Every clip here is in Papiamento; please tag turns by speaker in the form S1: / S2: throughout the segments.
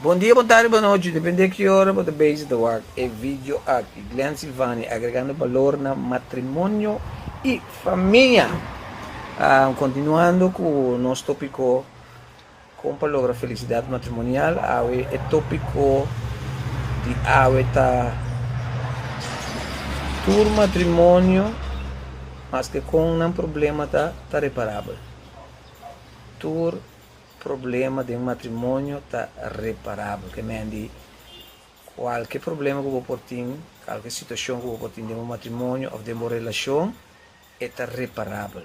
S1: Bon dia, bon tardi, bon nochi, depende ki ora bo ta bezi ta wak e video aki. Glen Sivani, agregando balor na matrimonio y famia. Continuando cu nos topico. Kon pa logra felisidat matrimonial, Awe e tópiko di awe ta tur matrimonio maske kon nan problema ta ta reparabel. Tur problema den matrimonio ta reparabel, ke men di kualke problema ku bo por tin, kualke situashon ku bo por tin den bo matrimonio òf den bo relashon e ta reparabel.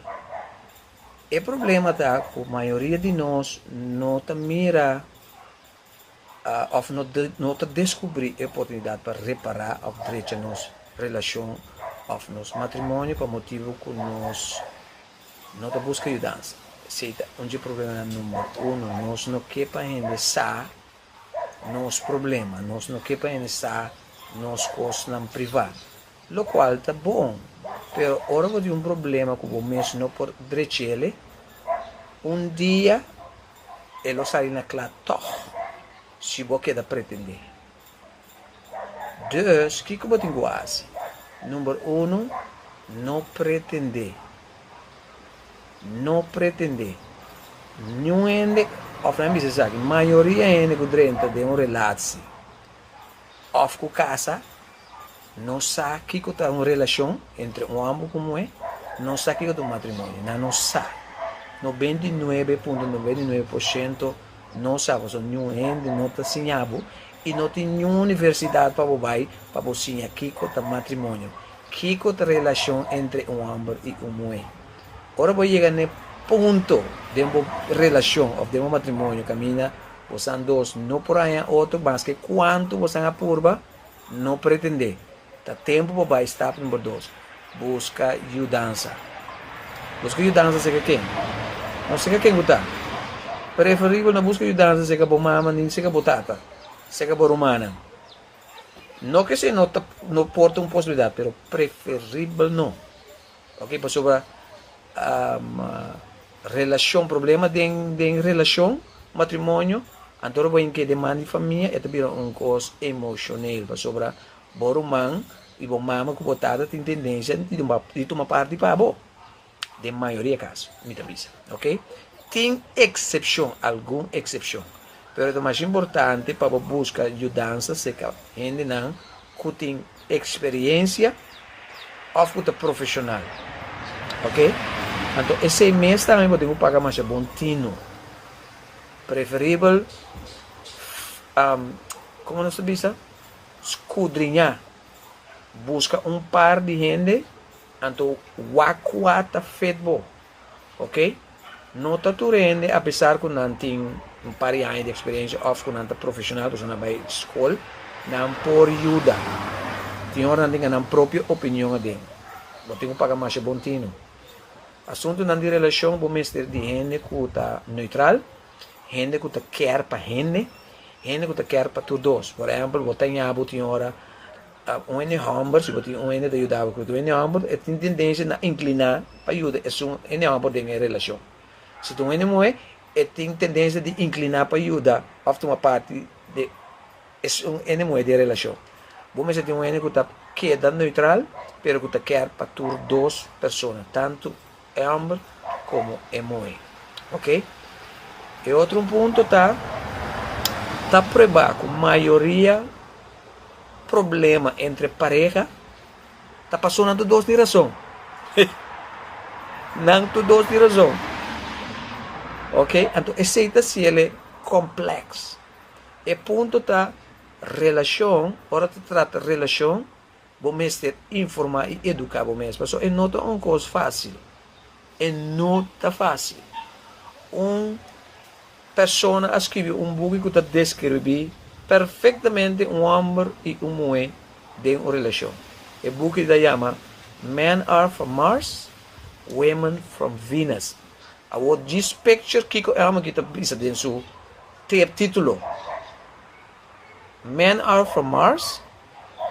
S1: E problema ta ku mayoria di nos no ta mira òf no ta deskubrí e oportunidat pa repará òf drecha nos relashon òf nos matrimonio pa motibu ku nos no ta buska yudansa. Esei ta un di e probleman number uno. Nos no ke pa hende sa nos problema, nos no ke pa hende sa nos kosnan privá. Locual ta bon, pero ora bo tin un problema cu bo mes no por drechele, un dia e lo sali na cla tog, si bo keda pretende. Dus, kico bo tin cu haci? Number uno, no pretende. No pretende. Niun hende, of nan bisa esaki, mayoria hende cu drenta den un relaci of cu casa, No sa kiko ta un relashon entre un homber ku muhé, no sa kiko ta un matrimonio. Na no sa. Noben di nuebe punto noben di nuebe por shento no sa. Paso niun hende no ta siña bo i no tin niun universidat pa bo bai pa bo siña kiko ta matrimonio, kiko ta relashon entre un homber i un muhé. Ora bo yega na e punto den bo relashon òf den bo matrimonio kaminda, bosan dos no por haña otro maske kuantu bosan a purba, No pretendé. Ta tempu pa bai stap number dos, buska yudansa. Buska yudansa seca ken? No seca ken cu ta. Preferibel na buska yudansa seca bo mama nin seca bo tata, seca bo rumannan. No cu esei no ta no porta un posibilidad, pero preferibel no. Oke pasobra relashon problema den relashon matrimonio anto ora bo a yami ke deman di famia e ta bira un kos emoshonel pasobra bo ruman i bo mama ku bo tata tin tendensia di tuma parti pa bo den mayoria kaso mi ta bisa oke tin eksepshon algun eksepshon Pero ta mas importante pa bo buska yudansa serka hendenan ku tin eksperiencia òf ku ta profeshonal. Oke? Anto e seis mes tambe bo tin ku paga masha bon tino. Preferibel komo nos ta bisa? Skudriñá, buska un par di hende anto wak kua ta fit bo. ok no ta tur hende a pesar ku nan tin un par di aña di eksperensia òf ku nan ta profeshonal pasobra nan bai skol nan por yuda tin ora nan tin nan propio opinion aden bo tin ku paga masha bon tin no asuntunan di relashon bo mester di hende ku ta neutral hende ku ta kèr pa hende hende ku ta kèr pa tur dos por ehèmpel bo ta ña bo tin ora A un hende hòmber, si bo tin un hende ta yuda bo ku otro hende hòmber, e tin tendensia na inkliná pa yuda esun hende hòmber den e relashon. Si ta un hende muhé, e tin tendensia di inkliná pa yuda òf tuma parti den esun hende muhé den e relashon. Bo mester tin un hende ku ta keda neutral, pero ku ta kèr pa tur dos persona, tantu. e homber como e muhe ok e otro un punto ta ta prueba cu mayoria problema entre pareha ta paso nan tu dos tin razon nan tu dos tin razon ok anto esey ta ciele complex e punto ta relacion ora ta trata relacion Bo mester informá i eduká bo mes, pasó e no ta un kos fásil. E no ta fásil. Un persona a skirbi un buki ku ta deskirbí perfektamente un hòmber i un muhé den un relashon. E buki ta yama Men Are From Mars, Women From Venus. Awor djis picture kiko e hòmber aki ta bisa den su tep título. Men are from Mars,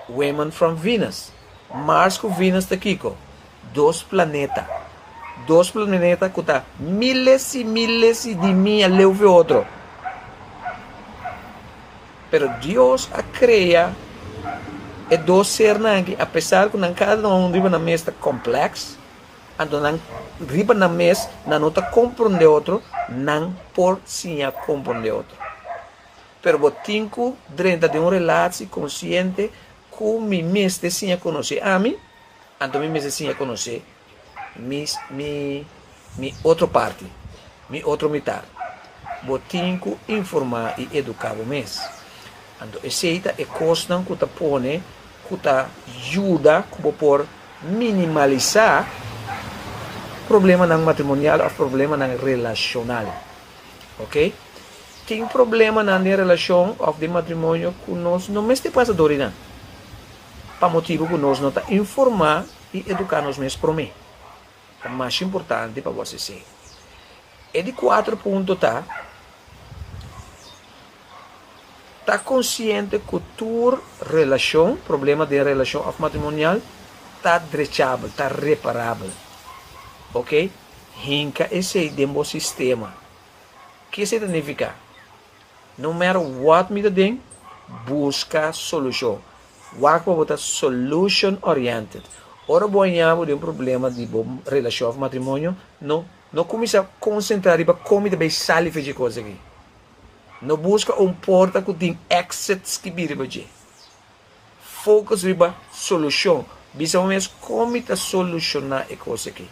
S1: women from Venus. Mars ku Venus ta kiko? Dos planeta. Dos planeta ku ta miles i miles i di mia leu for e otro. Pero Dios a krea e dos sernan aki, apesar ku nan kada uno riba nan mes ta kompleks, anto nan riba nan mes nan no ta komprende otro, nan por siña komprende otro. Pero bo tin cu drenta den un relaci consciente cu mi mester siña conoce ami, anto mi mester siña conoce mi mi otro parti, mi otro mitar. Bo tin cu informa y educa bo mes. Anto esey ta e cosnan cu ta pone cu ta yuda cu bo por minimalisa problemanan matrimonial of problemanan relacional. Ok. Tin problemanan den relashon òf den matrimonio ku nos no mester pasa dor di nan pa motibu ku nos no ta informá i eduká nos mes promé. Ta mas importante pa bo hasi esei. E di kuater punto ta, Ta konsiente ku tur relashon, problema den relashon òf matrimonial, ta drechabel, ta reparabel. Oke? Hinka esei den bo sistema. Ki esei ta nifiká? No matter what mi ta den, buska solushon. Wak pa bo ta solution oriented. Ora bo a ña bo den un problema di bo relashon òf matrimonio, no no kuminsá konsentrá riba kon mi ta bai sali fei dje kos aki. No buska un porta ku tin exits ki bira riba dje. Focus riba solucion. Bisa bo mes, con mi ta soluciona e cos aki?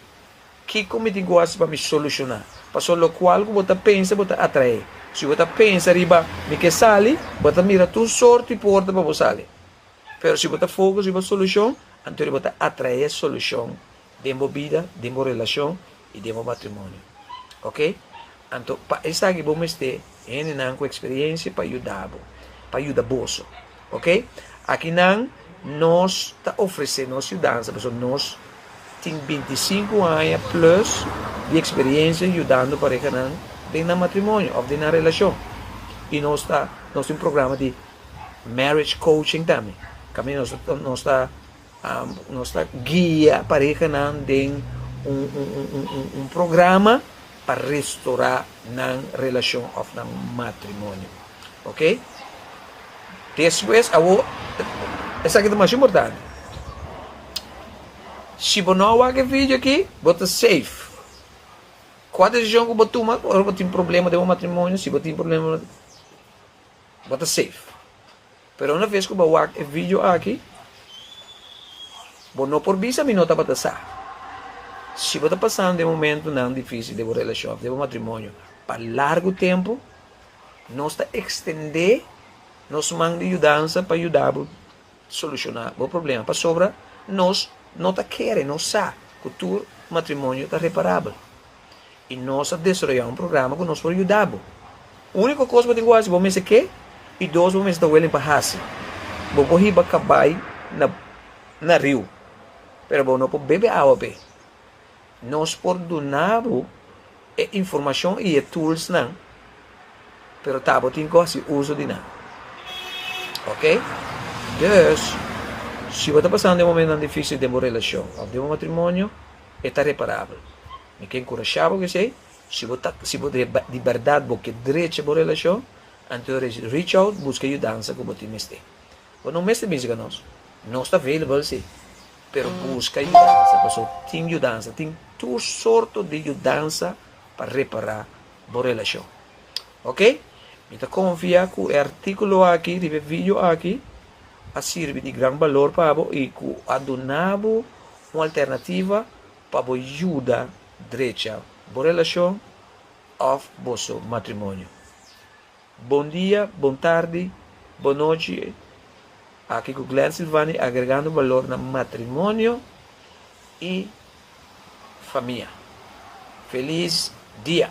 S1: Kico mi tin cu haci pa mi soluciona? Pasobra locual cu bo ta pensa, bo ta atrae. Si bo ta pensa riba mi ke sali, bo ta mira tur sort di porta pa bo sali. Pero si bo ta focus riba solucion, anto bo ta atrae solucion den bo bida, den bo relashon i den bo matrimonio. Oke? Anto pa esaki bo mester hendenan ku eksperiensia pa yuda bo, pa yuda boso. Oke? Aki nan nos ta ofresé nos yudansa pasobra nos tin binti i sinku aña plùs di eksperiensia yudando parehanan den nan matrimonio òf den nan relashon. I nos ta nos tin un programa di marriage coaching tambe kaminda nos ta nos ta Nos ta guia parehanan den un programa pa restorá nan relashon òf nan matrimonio. Oke. Despues, awor, esaki ta mas importante, si bo no a wak e vidio akí, bo ta safe. Kua desishon ku bo tuma ora bo tin problema den bo matrimonio, si bo tin problema den bo matrimonio, bo ta safe. Pero una vez cu bo a wak e video aki, bo no por bisa mi no tabata sa. Si bo ta pasando e momentonan dificil den bo relacion of den bo matrimonio pa largo tempo, nos ta extende nos man di yudansa pa yuda bo soluciona bo problema, pasobra nos no ta kere, nos sa cu tur matrimonio ta reparabel. i nos a desaroyá un programa ku nos por yuda bo. Úniko kos bo tin ku hasi, bo mester ke i dos bo mester ta willing pa hasi. Bo por hiba kabai na na riu, pero bo no por bebe awa p'e. Nos por duna bo e informashon i e toolsnan, pero ta bo tin ku hasi uso di nan. Ok? Dus, si bo ta pasando e momentnan difísil den bo relashon òf den bo matrimonio, e ta reparabel. Mi ke enkurashá bo ku esei, si bo ta si bo di bèrdat bo ke drecha bo relashon, antoes reach out buska yudansa ku bo tin mester. Bo no mester bisha ka nos, nos ta available si, pero buska yudansa paso tin yudansa, tin tur sorto di yudansa pa repará bo relashon. Ok, mi ta konfiá ku e artíkulo aki riba e vidio aki a sirbi di gran balor pa bo i ku a duna bo Un alternativa pa bo yuda drecha bo relashon òf boso matrimonio. Bon dia, bon tardi, bon nochi, aki ku Glen Silvani agregando balor na matrimonio i famia. Felis dia!